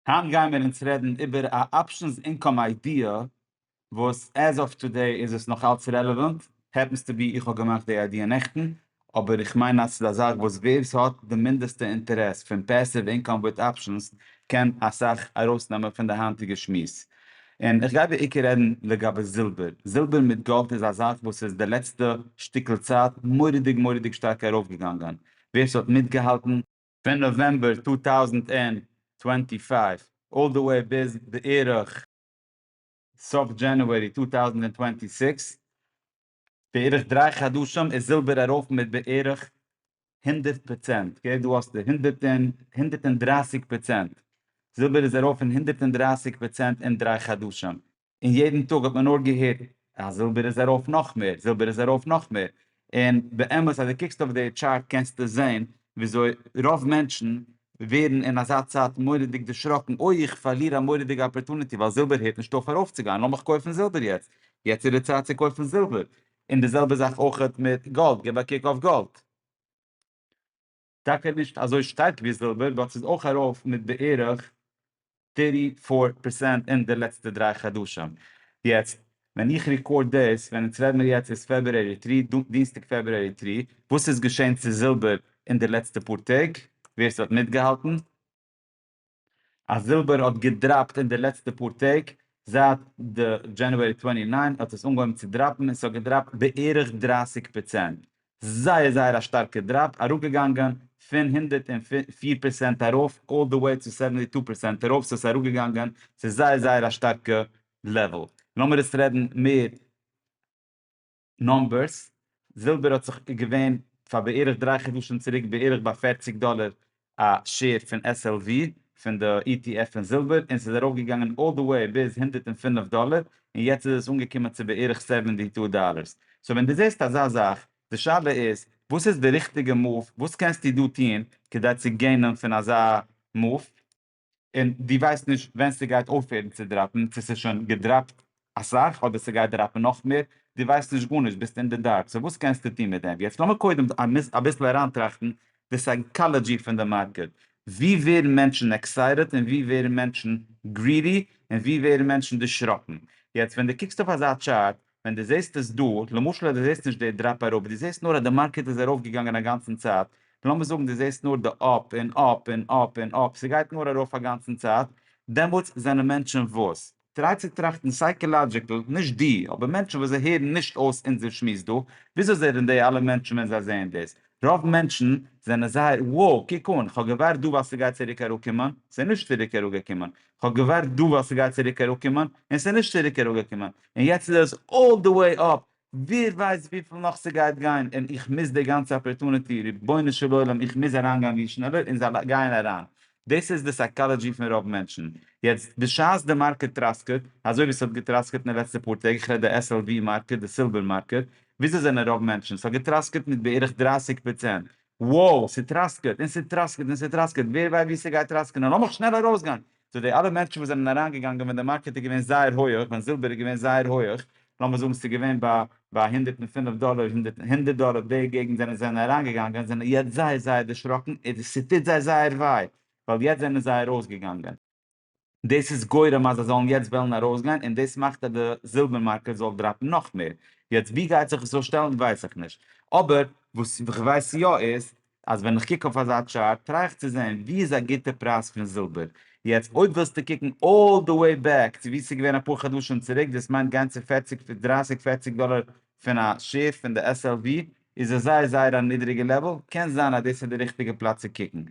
היינט גייען מיר אונז רעדן איבער א אפשענס אינקאם איידיע וואס עז אוו טודעי איז עס נאך אלץ רעלעווענט, העפענס טו בי איך האב געמאכט די איידיע נעכטן, אבער איך מיין אז ס'איז א זאך וואס ווער ס'האט די מינדעסטע אינטערעס פון פעסיוו אינקאם וויט אפשענס קען אסאך ארויסנעמען פון די היינטיגע שמועס. און איך גיי בעיקר רעדן לגבי זילבער, זילבער מיט גאלד איז א זאך וואס איז די לעצטע שטיקל צייט מורא'דיג מורא'דיג שטארק ארויפגעגאנגען, ווער ס'האט מיטגעהאלטן, פון נאוועמבער צוויי טויזנט צוואַנציק אלל די וועי ביז בערך סוף דזשענעווערי צוויי טויזנט צוואַנציק סיקס, בערך דריי חדשים איז זילבער ארויף מיט בערך הונדערט פראצענט, אקעי דא האסטו הונדערט און הונדערט און דרייסיג פראצענט, זילבער איז ארויף פון הונדערט און דרייסיג פראצענט אין דריי חדשים. און יעדן טאג האט מען נאר געהערט אז זילבער איז ארויף נאך מער, זילבער איז ארויף נאך מער, און באמת אז דו קוקסט אויף די טשארט קענסטו זען וויאזוי רוב מענטשן ווערן אין אזא צייט מורא'דיג דערשראקן, אוי איך פארליר א מורא'דיגע אפערטוניטי ווייל זילבער הערט נישט אויף ארויפצוגיין, לאמיך קויפן זילבער יעצט, יעצט איז די צייט צו קויפן זילבער, און די זעלבע זאך אויך מיט גאלד, גיב א קוק אויף גאלד. טאקע נישט אזוי שטארק ווי זילבער באט ס'איז אויך ארויף מיט בערך טערטי פאר פערסענט אין די לעצטע דריי חדשים. יעצט ווען איך רעקארד דאס, ווען אונז רעד מיר יעצט איז פעברואר תרי ד, דינסטאג פעברואר תרי ד, וואס איז געשען צו זילבער אין די לעצטע פאר טעג? ווער ס'האט מיטגעהאלטן. אז זילבער האט געדראפט אין די לעצטע פאר טעג, זייט די דזשענעווערי טווענטי ניין האט עס אנגעהויבן צו דראפן און ס'האט געדראפט בערך דרײַסיק פראצענט, זייער זייער א שטארקע דראפ, אראפגעגאנגען פון הונדערט און פֿיר פראצענט ארויף אלל די וועי צו סעווענטי טו פראצענט ארויף, סאו עס איז אראפגעגאנגען צו זייער זייער א שטארקע לעוועל. לאמיר עס רעדן מער. נומבערס, זילבער האט זיך איז געווען פאר בערך דריי חדשים צוריק בערך ביי פֿערציק דאלער א שעיר פון SLV פון די ETF פון זילבער און ס'איז ארויפגעגאנגען אלל די וועי ביז הונדערט און פֿינף דאלער און יעצט איז עס אנגעקומען צו בערך סעווענטי טו דאלערס סאו ווען דו זעסט אזא זאך די שאלה איז וואס איז די ריכטיגע מאוו וואס קענסטו דא טון כדי צו געינען פון אזא מאוו. און דו ווייסט נישט ווען ס'גייט אויפהערן צו דראפן, צו ס'איז שוין געדראפט אסאך אדער ס'גייט דראפן נאך מער, דו ווייסט נישט גארנישט, ביסט אין די דארק, סאו וואס קענסטו טון מיט דעם? יעצט לאמיר קודם אביסל אריינטראכטן די סייקאלאדזשי פון די מארקעט, ווי ווערן מענטשן עקסייטעד און ווי ווערן מענטשן גרידי און ווי ווערן מענטשן דערשראקן? יעצט ווען דו קוקסט אויף אזא טשארט, ווען דו זעסט עס דא, למשל אז דו זעסט נישט די דראפ אראפ, דו זעסט נאר אז די מארקעט איז ארויף געגאנגען א גאנצן צייט, לאמיר זאגן דו זעסט נאר די אפ און אפ און אפ און אפ, ס'גייט נאר ארויף א גאנצן צייט, דעמאלטס זענען מענטשן וואס? טריי צו טראכטן סייקעלאדזשיקל, נישט דו, אבער מענטשן וואס זיי הערן נישט אויס אונזער שמועס דא, וויאזוי זענען די אלע מענטשן ווען זיי זעען דאס? רוב מענטשן זענען זייער, wow, קוק אן, כ'האב געווארט דא ווייל ס'גייט צוריק אראפקומען, ס'איז נישט צוריק אראפגעקומען, כ'האב געווארט דא ווייל ס'גייט צוריק אראפקומען, און ס'איז נישט צוריק אראפגעקומען, און יעצט איז עס אלל די וועי אפ, ווער ווייסט וויפיל נאך ס'גייט גיין, און איך מיס די גאנצע אפערטוניטי, רבונו של עולם איך מיז אריינגיין ווי שנעלער און זיי גייען אריין, דאס איז די סייקאלעדזשי פון רוב מענטשן, יעצט בשעת די מארקעט טראסקעט, אזוי ווי ס'האט געטראסקעט אין די לעצטע פאר טעג, איך רעד די SLV מארקעט, די סילווער מארקעט, וויאזוי זענען רוב מענטשן, ס'האט געטראסקעט מיט בערך דרײַסיק פראצענט, וואו ס'טראסקעט און ס'טראסקעט און ס'טראסקעט, ווער ווייסט וואו ס'גייט טראסקענען, לאמיך שנעל ארויסגיין, צו די אלע מענטשן וואס זענען אריינגעגאנגען ווען די מארקעט איז געווען זייער הויעך, ווען זילבער איז געווען זייער הויעך, לאמיר זאגן ס'איז געווען ביי ביי הונדערט און פֿינף דאלער, הונדערט דאלער די געגנט זענען זיי זענען אריינגעגאנגען, זענען יעצט זייער זייער דערשראקן, און ס'טוט זיי זייער וויי, ווייל יעצט זענען זיי ארויסגעגאנגען. דאס איז גורם אז זיי זאלן יעצט וועלן ארויסגיין און דאס מאכט אז די זילבער מארקעט זאל דראפן נאך מער, יעצט ווי גייט זיך עס אויסשטעלן ווייס איך נישט, אבער וואס איך ווייס יא איז אז ווען איך קוק אויף אזא טשארט טריי איך צו זען ווי איז א גוטע פרייז פון זילבער, יעצט אויב ווילסטו קוקן אלל די וועי בעק צו ווי ס'איז געווען אפאר חדשים צוריק דאס מיינט גיין צו פערציג דרייסיג פערציג דאלער פון א שעיר פון די SLV איז עס זייער זייער א נידריגע לעוועל, קען זיין אז דאס איז די ריכטיגע פלאץ צו קוקן,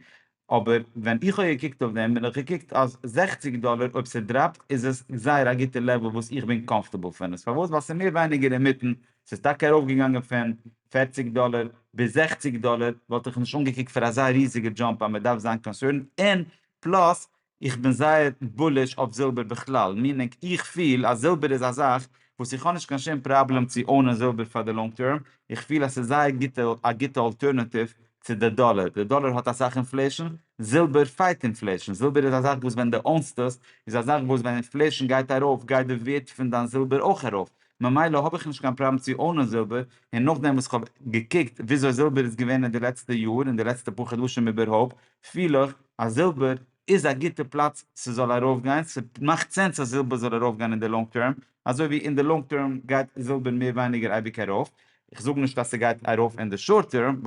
אבער ווען איך האב געקוקט אויף דעם בין איך געקוקט אז זעכציג דאלער אויב ס'דראפט איז עס זייער א גוטע לעוועל וואס איך בין קאמפארטעבל פון עס, פארוואס ווייל ס'איז מער ווייניגער אינמיטן, ס'איז טאקע ארויפגעגאנגען פון פֿערציק דאלער ביז זעכציק דאלער וואלט איך נישט אנגעקוקט פאר אזא ריזיגע דזשאמפ אז מ'דארף זיין קאנסערנד, און פלאס איך בין זייער בוליש אויף זילבער בכלל, מיענינג איך פיל אז זילבער איז א זאך וואס איך האב נישט קיין שום פראבלעם צו אונען זילבער פאר די לאנג טערם, איך פיל אז ס'איז זייער גוטע א גוטע אלטערנאטיוו צו די דאלער, די דאלער האט אסאך אינפלעישאן, זילבער פייט אינפלעישאן, זילבער איז א זאך וואס ווען די אונסט עס איז א זאך וואס ווען אינפלעישאן גייט ארויף גייט די ווערט פון דיין זילבער אויך ארויף, ממילא האב איך נישט קיין פראבלעם צו אונען זילבער, און נאכדעם וואס איך האב געקוקט וויאזוי זילבער איז געווען אין די לעצטע יאר און די לעצטע פאר חדשים איבערהויפט פיל איך אז זילבער איז א גוטע פלאץ ס'זאל ארויפגיין, ס'מאכט סענס אז זילבער זאל ארויפגיין אין די לאנג טערם, אזוי ווי אין די לאנג טערם גייט זילבער מער ווייניגער אייביג ארויף, איך זאג נישט אז ס'גייט ארויף אין די שארט טערם,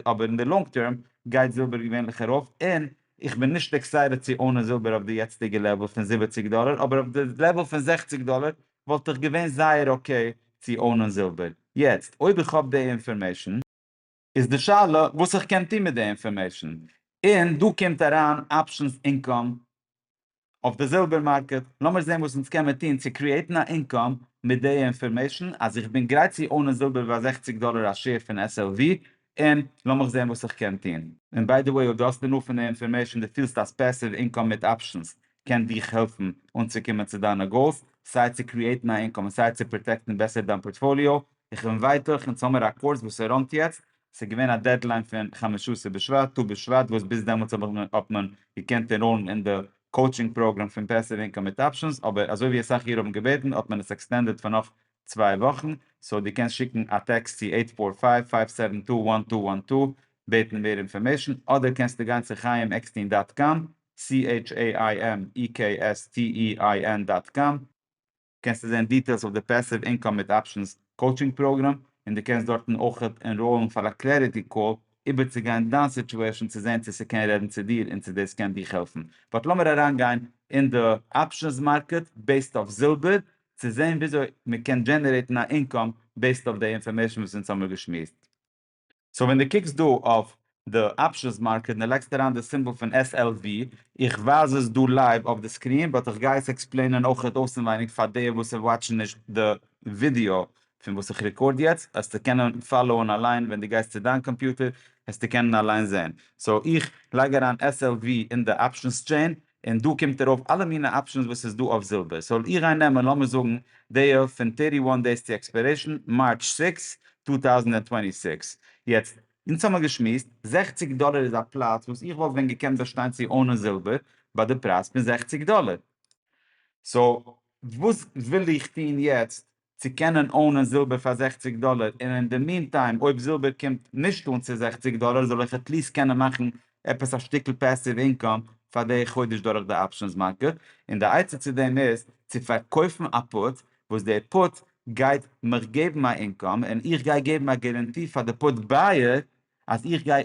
אבער אין די לאנג טערם גייט זילבער געווענליך ארויף, און איך בין נישט עקסייטעד צו אונען זילבער אויף די יעצטיגע לעוועל פון זיבעציק דאלער, אבער אויף די לעוועל פון זעכציק דאלער וואלט איך געווען זייער אקעי צו אונען זילבער, יעצט אויב איך האב די אינפארמעישן. איז די שאלה וואס איך קען טון מיט די אינפארמעישן, און דא קומט אריין אפשענס אינקאם אויף די זילבער מארקעט, לאמיר זען וואס אונז קען מען טון צו קריעטן א אינקאם מיט די אינפארמעישן אז איך בין גרייט צו אונען זילבער ביי זעכציק דאלער א שעיר פון SLV, און לאמיך זען וואס איך קען טון. און ביי די וועי אויב דו האסט אינאף פון די אינפארמעישן דו פילסט אז פעסיוו אינקאם מיט אפשענס קען דיך העלפן אנצוקומען צו דיינע גאולס, סיי צו קריעטן א אינקאם און סיי צו פראטעקטן בעסער דיין פארטפאליאו, איך בין ווייט אויך אין סאמער א קורס וואס ס'ראנט יעצט, ס'איז געווען א דעדליין פון חמשה עשר בשבט, טו בשבט, וואס ביז דעמאלטס האב איך, האט מען געקענט ענראלן אין די קאוטשינג פראגרעם פון פעסיוו אינקאם מיט אפשענס, אבער אזוי ווי אסאך אירע האבן געבעטן האט מען עס עקסטענדעד פאר נאך צוויי וואכן, סאו דו קענסט שיקן א טעקסט צו עיט פאר פייוו, פייוו סעווען טו, וואן טו וואן טו בעטן מער אינפארמעישן, אדער קענסטו גיין צו חיים עקסטין דאט קאם, CHAIMEXTEIN דאט קאם. קענסטו זען דיטעילס אויף די פעסיוו אינקאם מיט אפשענס קאוטשינג פראגראם, און דו קענסט דארטן אויך ענראולן פאר א קלעריטי קאל איבערצוגיין דיין סיטועשן צו זען צו ס'קען רעדן צו דיר און צו דאס קען דיך העלפן. באט לאמיר אריינגיין אין די אפשענס מארקעט בעיסד אויף זילבער צו זען וויאזוי מ'קען דזשענערעיטן א אינקאם בעיסד אויף די אינפארמעישן וואס אונז האמיר געשמועסט. סאו ווען דו קוקסט דא אויף די אפשענס מארקעט און דו לייגסט אריין די סימבאל פון SLV, איך ווייז עס דא לייוו אויף די סקרין באט איך גיי עס עקספלעינען אויך אויסענווייניג פאר די וואס וואטשן נישט די ווידעא פון וואס איך רעקארד יעצט, העסטו קענען פאלאוען אליין ווען דו גייסט צו דיין קאמפיוטער העסטו קענען אליין זעהן. סאו איך לייג אריין SLV אין די אפשענס טשעין און דא קומט ארויף אלע מינע אפשענס וואס איז דא אויף זילבער, סאו איך גיי נעמען לאמיר זאגן די פון טערטי וואן דעיס טו עקספערעישן מארטש סיקס טו טאוזנט און טווענטי סיקס, יעצט אונז האמער געשמועסט זעכציק דאלער איז א פלאץ וואס איך וואלט ווען געקענט באשטיין צו אונען זילבער ביי די פרייז פון זעכציק דאלער, סאו וואס וויל איך טון יעצט צו קענען אונען זילבער פאר זעכציג דאלער און אין די מין טיים אויב זילבער קומט נישט אן צו זעכציג דאלער זאל איך עטליסט קענען מאכן עפעס א שטיקל פעסיוו אינקאם פאר די חודש דורך די אפשענס מארקעט און די עצה צו דעם איז צו פארקויפן א פוט וואס די פוט גייט מיך געבן א אינקאם און איך גיי געבן א גערענטי פאר די פוט בייער אז איך גיי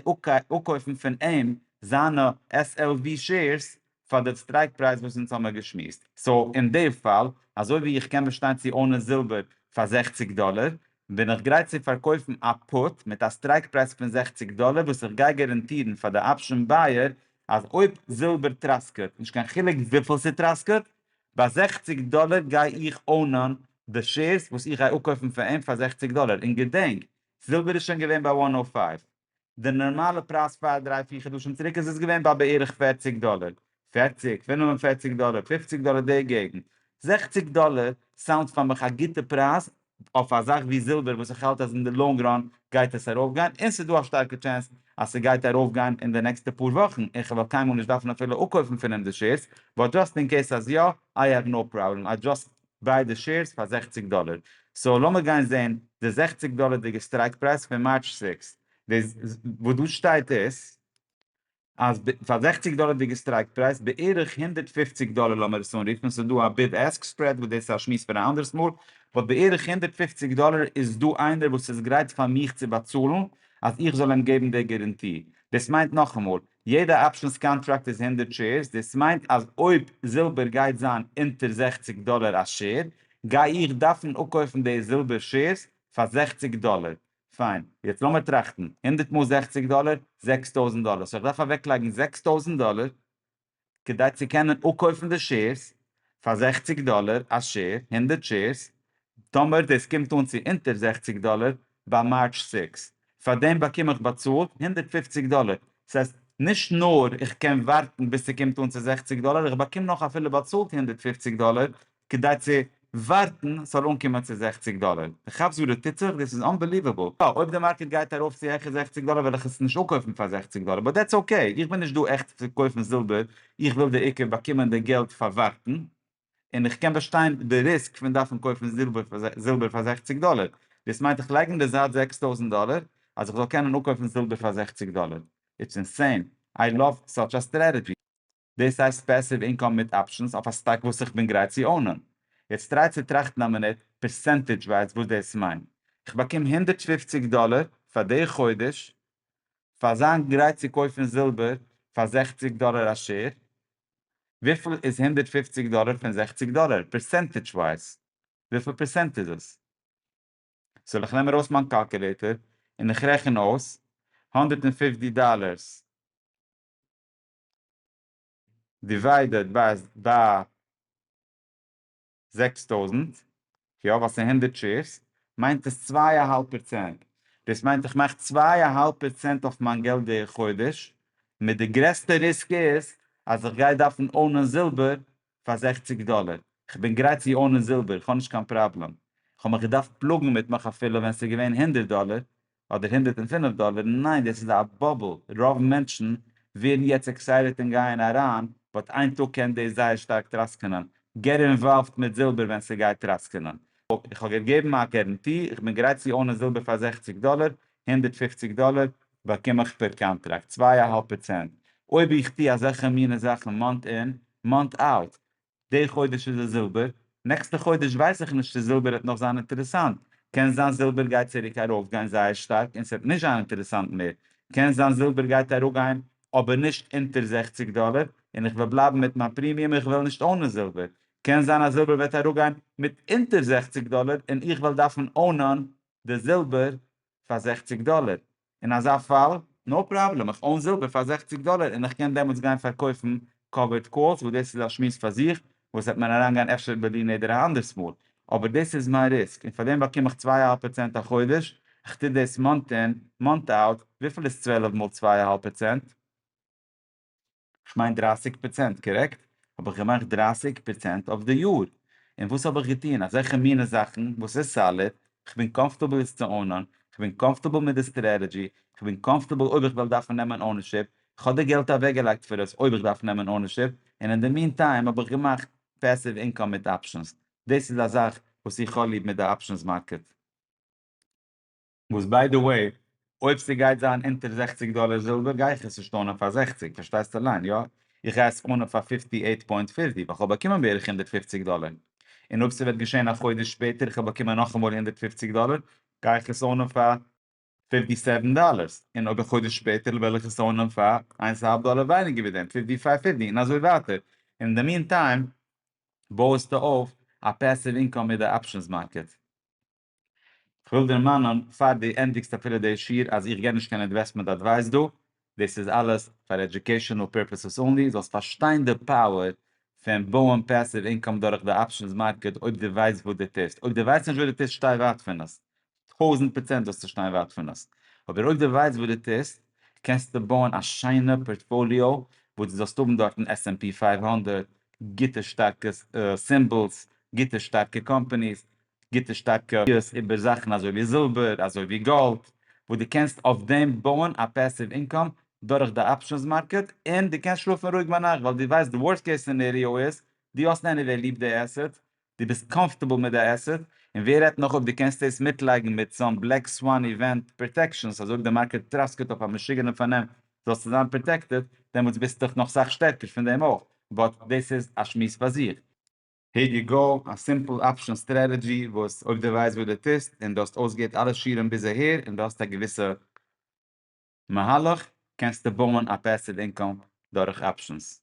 אפקויפן פון אים זיינע SLV שעירס פאר די סטרייק פרייז וואס אונז האמער געשמועסט. סאו אין די פאל, אזוי ווי איך קען באשטיין צו אונען זילבער פאר זעכציק דאלער, בין איך גרייט צו פארקויפן א פוט מיט א סטרייק פרייז פון זעכציק דאלער וואס איך גיי גאראנטירן פאר די אפשען בייער אז אויב זילבער טראסקעט, נישט קיין חילוק וויפיל ס'טראסקעט, ביי זעכציק דאלער גיי איך אונען די שעירס וואס איך גיי אפקויפן פון אים פאר זעכציק דאלער. און געדענק, זילבער איז שוין געווען ביי וואן נאו פייוו. די נארמאלע פרייז פאר דריי פיר חדשים צוריק איז עס געווען ביי בערך פֿערציק דאלער, פֿערציק, פֿינף און פֿערציק דאלער, פֿופֿציק דאלער די געגנט, זעכציק דאלער סאונדס פאר מיך א גוטע פרייז אויף א זאך ווי זילבער וואס איך האלט אז אין די לאנג ראן גייט עס ארויף גיין און ס'איז דא א שטארקע טשענס אז ס'גייט ארויף גיין אין די נעקסטע פאר וואכן און כ'וועל קיינמאל נישט דארפן אפילו אפקויפן פון אים די שעירס באט דזשאסט אין קעיס אז יא איי העוו נאו פראבלעם איי דזשאסט ביידע שעירס פאר זעכציג דאלער, סאו לאמיר גיין זעהן די זעכציג דאלערדיגע סטרייק פרייז פון מארטש סיקסט, וואס דא שטייט איז אז פאר זעכציג דאלערדיגע סטרייק פרייז בערך הונדערט פֿופֿציק דאלער לאמיר עס אנרופן, ס'איז דא א ביד עסק ספרעד וואס דאס איז א שמועס פאר א אנדערעס מאל, באט בערך הונדערט פֿופֿציק דאלער איז דא איינער וואס איז גרייט פאר מיך צו באצאלן אז איך זאל אים געבן די גערענטי, דאס מיינט נאכאמאל יעדע אפשענס קאנטראקט איז הונדערט שעירס, דאס מיינט אז אויב זילבער גייט זיין אונטער זעכציק דאלער א שעיר, גיי איך דארפן אפקויפן די זילבער שעירס פאר זעכציק דאלער. פיין, יעצט לאמיר טראכטן, הונדערט מאל זעכציק דאלער, זעקס טויזנט דאלער, סאו איך דארף אוועקלייגן זעקס טויזנט דאלער כדי צו קענען אפקויפן די שעירס פאר זעכציג דאלער א שעיר, הונדערט שעירס, טאמער דאס קומט אן צו אונטער זעכציג דאלער ביי מארטש זעקס, פאר דעם באקום איך באצאלט הונדערט פֿופֿציק דאלער, דאס הייסט נישט נאר איך קען ווארטן ביז ס'קומט אן צו זעכציג דאלער, איך באקום נאך אפילו באצאלט הונדערט פֿופֿציק דאלער כדי צו ווארטן ס'זאל אנקומען צו זעכציג דאלער. דו כאפסט וואס דא טוט זיך? דאס איז אנבעליוועבל. יא, אויב די מארקעט גייט ארויף צו העכער זעכציג דאלער וועל איך עס נישט אפקויפן פאר זעכציג דאלער, באט דעטס אקעי. איך בין נישט דא עכט צו קויפן זילבער, איך וויל די עיקר באקומען די געלט פאר ווארטן, און איך קען באשטיין די ריסק פון דארפן קויפן זילבער פאר זעכציג דאלער. דאס מיינט איך לייג אין די זייט זעקס טויזנט דאלער אז איך זאל קענען אפקויפן זילבער פאר זעכציג דאלער. איטס אינסיין. איי לאוו סאטש א סטרעטעדזשי. דאס הייסט פעסיוו אינקאם מיט אפשענס אויף א סטאק וואס איך בין גרייט צו אונען. יעצט טריי צו טראכטן א מינוט פערסענטעדזש ווייז וואס דאס מיינט. איך באקום הונדערט פֿופֿציק דאלער פאר די חודש פאר זיין גרייט צו קויפן זילבער פאר זעכציק דאלער א שער. וויפיל איז הונדערט פֿופֿציק דאלער פון זעכציק דאלער פערסענטעדזש ווייז? וויפיל פערסענט איז עס? סאו איך נעם ארויס מיין קאלקולעיטער און איך רעכן אויס הונדערט און פֿופֿציק דאלערס. דיוויידעד ביי זעקס טויזנט, יא ווייל ס'איז הונדערט שעירס, מיינט עס צוויי א האלב פערצענט, דאס מיינט איך מאך צוויי א האלב פערצענט אויף מיין געלט די חודש, מיט די גרעסטע ריסק איז אז איך גיי דארפן אונען זילבער פאר זעכציג דאלער, איך בין גרייט צו אונען זילבער, איך האב נישט קיין פראבלעם, איך האב מיך געדארפט פלאגן מיט מיך אפילו ווען ס'איז געווען הונדערט דאלער, אדער הונדערט און פֿינף דאלער, ניין דאס איז א באבל, רוב מענטשן ווערן יעצט עקסייטעט און גייען אריין, באט איין טאג קען דאס זייער שטארק טראסקענען, געט אינוואלווד מיט זילבער ווען ס'גייט טראסקענען. איך האב געגעבן א גערענטי, איך בין גרייט צו אונען זילבער פאר זעכציק דאלער, הונדערט פֿופֿציק דאלער באקום איך פער קאנטראקט, צוויי אהאלב פראצענט, אויב איך טו אזעלכע מיני זאכן מאנט אין, מאנט אוט, די חודש איז עס זילבער, נעקסטע חודש ווייס איך נישט צו זילבער העט נאך זיין אינטערעסאנט, קען זיין זילבער גייט צוריק ארויפגיין זייער שטארק און ס'עט נישט זיין אינטערעסאנט מער, קען זיין זילבער גייט אראפגיין אבער נישט אונטער זעכציק דאלער און איך וועל בלייבן מיט מיין פרימיום איך וועל נישט אונען זילבער, קען זיין אז זילבער וועט אראפגיין מיט אונטער זעכציק דאלער און איך וועל דארפן אונען די זילבער פאר זעכציק דאלער, אין אזא פאל, נאו פראבלעם, איך אוין זילבער פאר זעכציג דאלער און איך קען דעמאלטס גיין פארקויפן קאווערד קאלס, וואס דאס איז א שמועס פאר זיך, וואס וועט מען אריינגיין אפשר ביי דיר נדר א אנדערס מאל, אבער דאס איז מיין ריסק, און פאר דעם באקום איך צוויי אהאלב פראצענט א חודש, איך טו דאס מאנט אין, מאנט אויט, וויפיל איז צוועלף מאל צוויי אהאלב פראצענט? כ'מיין דרייסיג פראצענט, קארעקט? האב איך געמאכט דרייסיג פראצענט אויף די יאר, און וואס האב איך געטון? אזעלכע מינע זאכן וואס איז סאליד, כ'בין קאמפארטעבל עס צו אונען, כ'בין קאמפארטעבל מיט די סטרעטעדזשי, כ'בין קאמפארטעבל אויב איך וועל דארפן נעמען אונערשיפ, כ'האב די געלט אוועקגעלייגט פאר עס אויב איך דארף נעמען אונערשיפ, און אין די מין טיים האב איך געמאכט פעסיוו אינקאם מיט אפשענס, דאס איז א זאך וואס איך האב ליב מיט די אפשענס מארקעט. וואס ביי די וועי, אויב ס'גייט זיין אונטער זעכציג דאלער זילבער גיי איך עס נישט אנען פאר זעכציג, פארשטייסט אליין, יא, איך גיי עס אנען פאר פיפטי עיט פוינט פיפטי ווייל כ'וועל באקומען בערך הונדערט פופציג דאלער, און אויב ס'וועט געשען א חודש שפעטער איך וועל באקומען נאכאמאל הונדערט פופציג דאלער, גיי איך עס אנען פאר פיפטי סעווען דאלערס, און אויב א חודש שפעטער וועל איך עס אנען פאר איינס אהאלב דאלער ווייניגער ווי דעם, פיפטי פאר פיפטי, און אזוי ווייטער, און אין די מין טיים בויעסטו אויף א פעסיוו אינקאם מיט די אפשענס מארקעט. כ'וויל דערמאנען פאר דו ענדיגסט אפילו די שיעור אז איך גיב נישט קיין אינוועסטמענט אדווייס דא, דאס איז אלעס פאר עדיוקעישאנעל פירפעסעס אנלי, זאלסט פארשטיין די פאוער פון בויען פעסיוו אינקאם דורך די אפשענס מארקעט אויב דו ווייסט וואס דו טוסט, אויב דו ווייסט נישט וואס דו טוסט שטיי ווייט פון עס, טויזנט פראצענט זאלסטו שטיין ווייט פון עס, אבער אויב דו ווייסט וואס דו טוסט קענסטו בויען א שיינע פארטפאליאו וואס דו זאלסט האבן דארטן עס ענד פי פֿינף הונדערט, גוטע שטארקע סימבעלס, גוטע שטארקע קאמפעניס, גוטע שטארקע ראיות איבער זאכן אזוי ווי זילבער, אזוי ווי גאלד, וואס דו קענסט אויף דעם בויען א פעסיוו אינקאם דורך די אפשענס מארקעט, און דו קענסט שלאפן רואיג ביינאכט ווייל דו ווייסט די ווארסט קעיס סינעריאו איז, דו האסט עניוועי ליב די עסעט, דו ביסט קאמפארטעבל מיט די עסעט, און ווער רעדט נאך אויב דו קענסט דאס מיטלייגן מיט סאם בלעק סוואן איווענט פראטעקשענס אז אויב די מארקעט טראסקעט אויף א משוגענע פארנעם זאלסטו זיין פראטעקטעד, דעמאלטס ביסטוך נאך סאך שטערקער פון דעם אויך, באט דאס איז א שמועס פאר זיך. הער יו גאו, א סימפל אפשן סטרעטעדזשי וואס אויב דו ווייסט וואס דו טוסט און דו האסט אויסגעהערט אלע שיעורים ביז אהער און דו האסט א געוויסע מהלך קענסטו בויען א פעסיוו אינקאם דורך אפשנס.